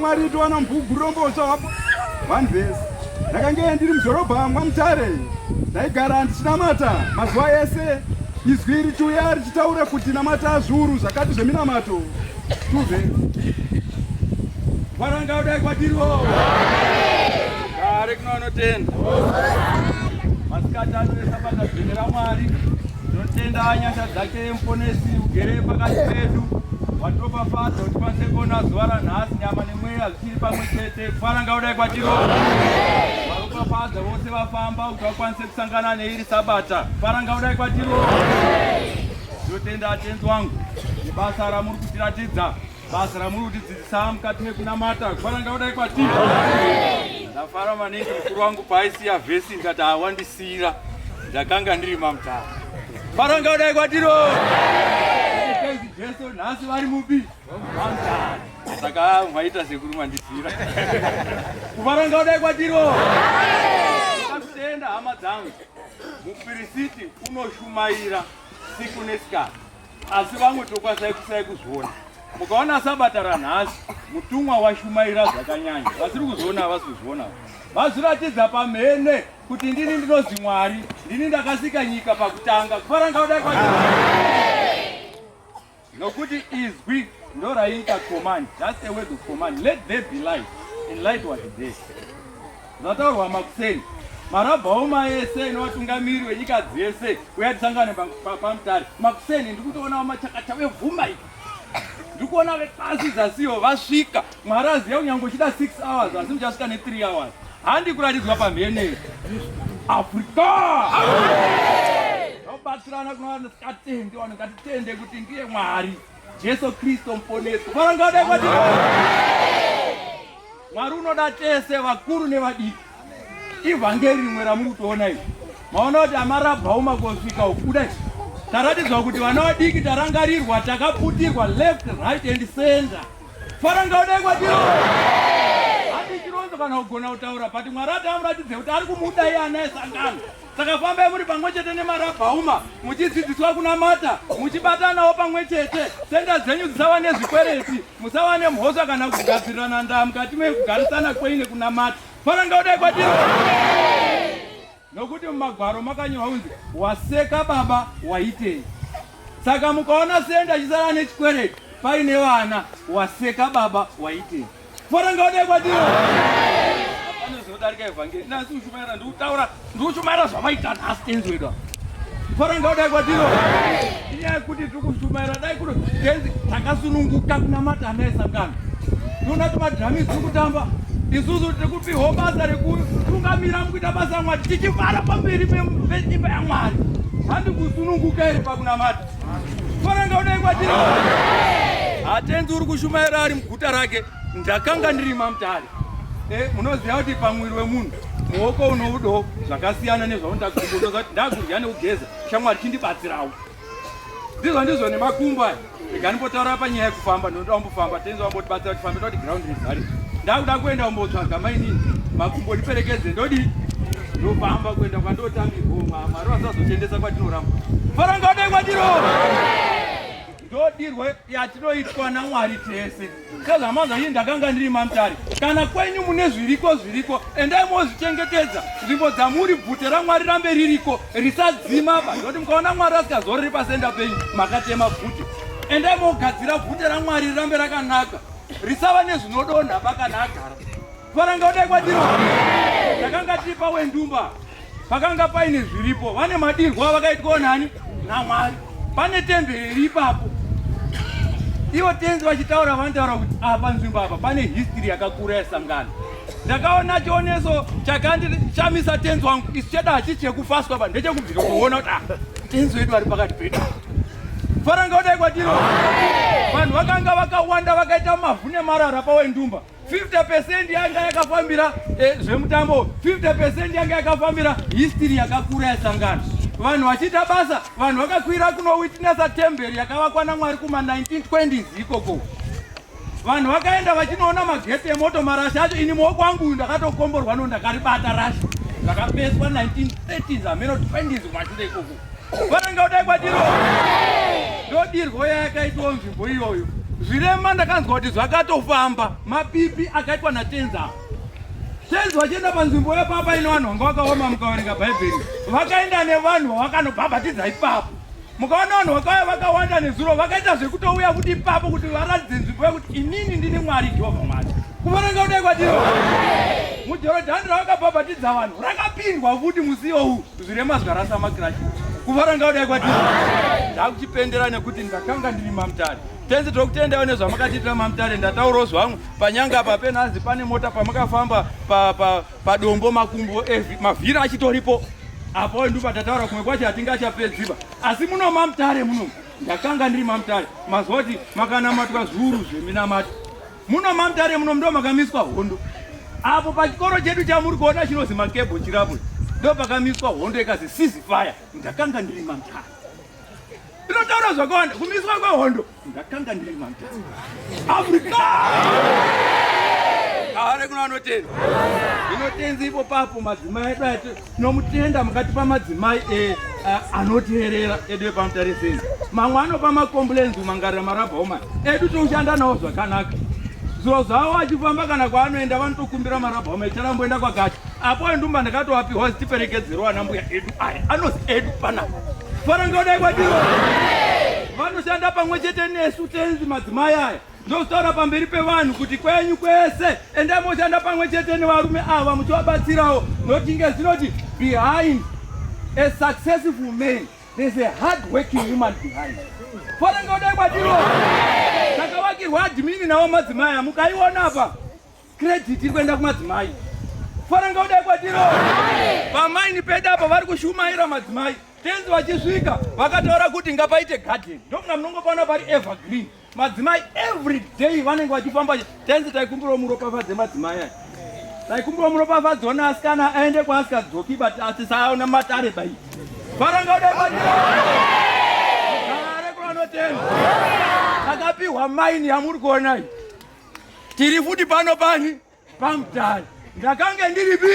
Mwari tiwana mbugurombozva hapo vanhu vese ndakange ndiri mudhorobha mwamutare ndaigara ndichinamata mazuva ese izwi richiuya richitaura kuti namata zviuru zvakati zveminamato tuve varanga kudai kwatiriwo gare kunoonotenda masikati anoesapata zvinhu ramwari Tinotenda nyasha dzake muponesi ugere pakati pedu watopafadzo kuti pasekona zuva ranhasi nyama nemweya zvichiri pamwe chete kufana ngaudai kwatiro varopafadza vose vafamba kuti vakwanise kusangana neiri sabata kufana ngaudai kwatiro tinotenda atenzi wangu nebasa ramuri kutiratidza Basa ramuri kutidzidzisa mukati mekunamata kufanira kudai kwatiri. Ndafara maningi mukuru wangu paaisiya vhesi ndikati awandisiira ndakanga ndiri mamutara. Faranga kudai kwatiro. Jesu nhasi vari mupi? Mamutara. Saka mwaita sekuru mandisiira. Kufaranga kudai kwatiro. Ndakutenda hama dzangu. Mupirisiti unoshumaira siku nesikati. asi vamwe tokwasai kusai kuzviona mukaona sabata ranhasi mutumwa washumaira zvakanyanya vasiri kuzviona havasi kuzviona vazviratidza pamhene kuti ndini ndinozi mwari ndini ndakasika nyika pakutanga kufarangauda kwa nokuti izwi ndo raiita command just a word of command let there be light and light was there Zvataurwa makuseni marabhaoma ese nevatungamiri wenyika dzese uya tisangane pamutare makuseni ndiri kutoonawo machakacha vevhumba ika ndiri kuona vepasi zasiyo vasvika mwari aziva kunyange uchida 6 hours asi muchasvika ne3 hours handi kuratidzwa pamhene afrika vabatsirana kunovasikatende vanhu ngatitende kuti ndiye mwari Jesu Kristo mponeswa. Bwana ngade kwa dini. Mwari unoda tese vakuru nevadiki. Ivhangeri rimwe ramuri kutoona iri. Maona kuti amarabhawo makosvika ukuda chi. Taratidzwa kuti vana vadiki tarangarirwa takaputirwa left right and center. Fara ngade kwa dini. Hadi chironzo kana kugona kutaura but Mwari atamuratidze kuti ari kumuda iye anaye sangano. Saka fambai muri pamwe chete nemarabhauma muchidzidziswa kunamata muchibatanawo pamwe chete senda dzenyu dzisava nezvikwereti musava nemhosva kana kugadzirirana ndaa mukati mekugarisana kwei nekunamata faranga kudai kwatiri nokuti mumagwaro makanyorwa kunzi waseka baba waitei saka mukaona senda chisara nechikwereti paine vana waseka baba waitei kudarika evhangeri nasi ndikuchumaira ndikutaura ndikuchumaira zvamaita nhasi tenzi wedu fara ndodai kwatino inyaya yekuti tiri kuchumaira dai kuno tenzi takasununguka kunamata ana esangano tiona kuti madhirami tiri kutamba isusu tiri kupihwa basa rekutungamira mukuita basa yamwari tichivara pamberi peimba yamwari handi kusununguka iri pakunamata fara ndodai kwatino hatenzi uri kushumaira ari guta rake ndakanga ndiri mamutare eh, munoziva kuti pamuviri wemunhu muoko unoudo zvakasiyana nezvaundakumbozati ndakudya nekugeza shamwari chindibatsirawo ndizvo ndizvo nemakumbo aya ikanimbotaura panyaya yekufamba ndinoda kumbofamba tenzi wambotibatsira tifambe toti ground rizari ndakuda kuenda kumbotsvaga mainini makumbo ndiperekedze ndodii ndofamba kuenda kwandotambirwo mwari vasazotiendesa kwatinoramba faranga odai kwatiro ndodirwo yatinoitwa namwari tese sezvamanza ii ndakanga ndiri mamtari kana kwenyu mune zviriko zviriko endai mozvichengetedza nzvimbo dzamuri bvute ramwari rambe ririko risadzima pa nekuti mukaona mwari asikazorori pasenda penyu makatema bvute endai mogadzira bvute ramwari rirambe rakanaka risava nezvinodonha pakana agara faranga udai kwadiro ndakanga tiri pawendumba Pakanga paine zviripo, vane madirwa vakaitwawo nani naMwari. Pane temberi iri ipapo, ivo tenzi vachitaura vanotaura kuti apa nzvimbo apa pane history yakakura yesangano. Ndakaona chioneso chakandishamisa tenzi wangu, isu cheda hachisi chekufaswa pa ndechekubvira kuona kuti ah, tenzi wedu vari pakati pedu faranga odai kwatiro vanhu vakanga vakawanda vakaita mavhu nemarara pawendumba 50% yanga yakafambira eh, zvemutambo 50% yanga yakafambira history yakakura yasangana vanhu vachiita basa vanhu vakakwira kuno witnessa temberi yakavakwa namwari kuma 1920s ikoko vanhu vakaenda vachinoona mageti emoto marashi acho ini muoko wangu uyu ndakatokomborwa no ndakaribata rashi ndakapeswa 1930s ameno 20s kumashure ikoko Varanga kudai kwatiro ndodirwo yayakaitwa nzvimbo iyoyo. Zvirema ndakanzwa kuti zvakatofamba mapipi akaitwa natenzi apa. Tenzi vachienda panzvimbo yepapa ino vanhu vanga vakaoma mukaverenga Bhaibheri. Vakaenda nevanhu vawakanobhabhatidza ipapo. Mukaona vanhu vakauya vakawanda nezuro vakaita zvekutouya kuti ipapo kuti varatidze nzvimbo yekuti inini ndini Mwari Jehovha Mwari. Kuvaranga kudai kwatiro. Mujorodhani ravakabhabhatidza vanhu rakapindwa futi musiwo uyu. Zvirema zvikarasa makirashi kuvara ngaudai kwatiri ndakuchipendera nekuti ndakanga ndiri mamutare tenzi tokutendawo nezvamakatiitira mamutare ndataurawo zvangu panyanga apa penhanzi pane mota pamakafamba padombo pa, pa makumbo eh, mavhiri achitoripo apo ndupa tataura kumwe kwacho hatingachapedziba asi muno mamutare muno ndakanga ndiri mamutare maziva kuti makanamatwa zviuru zveminamato Muno mamtare muno ndo makamiswa hondo. Apo pachikoro chedu chamuri kuona chinozi makebo chirabwe. Ndo pakamiswa hondo ikazi sisi fire. Ndakanga ndiri mamtare. Inotaura zvakawanda kumiswa kwehondo. Ndakanga ndiri mamtare. Africa! Kare kuno anotenda. Inotenzi ipo papo madzimai edu Tinomutenda mukatipa madzimai e, a, anoteerera edu epamutariseni. Mamwe anopa macomplains kumangarira marabha omani edu toshanda nawo zvakanaka. Zviro zvavo achifamba kana kwaanoenda vanotokumbira marabha omani charamboenda kwakati apo endumba ndakatoapiwa zitiperekedzerwa ana mbuya edu aya anozi edu panapa farangaodai kwatiro vanoshanda pamwe chete nesu tenzi madzimai aya Ndotaura pamberi pevanhu kuti kwenyu kwese endai moshanda pamwe chete nevarume ava muchivabatsirawo not inge zinoti behind a successful man there's a hard working woman behind fonenge udai kwatiro takavakirwa admini navo madzimai amukaiona apa credit iri kuenda kumadzimai fonenge udai kwatiro pamaini pedu apa vari kushumaira madzimai tenzi vachisvika vakataura kuti ngapaite garden ndokunga munongopaona pari evergreen madzimai every day vanenge vachifamba tenzi taikumbirawo muropafadze madzimai aya taikumbirawo muropafadze ona asikana aende kwaasikadzoki but atisaona matare bai varanga uda matare kuvanotenda takapiwa maini yamuri kuonai tiri futi pano pani pamutare ndakange ndiripi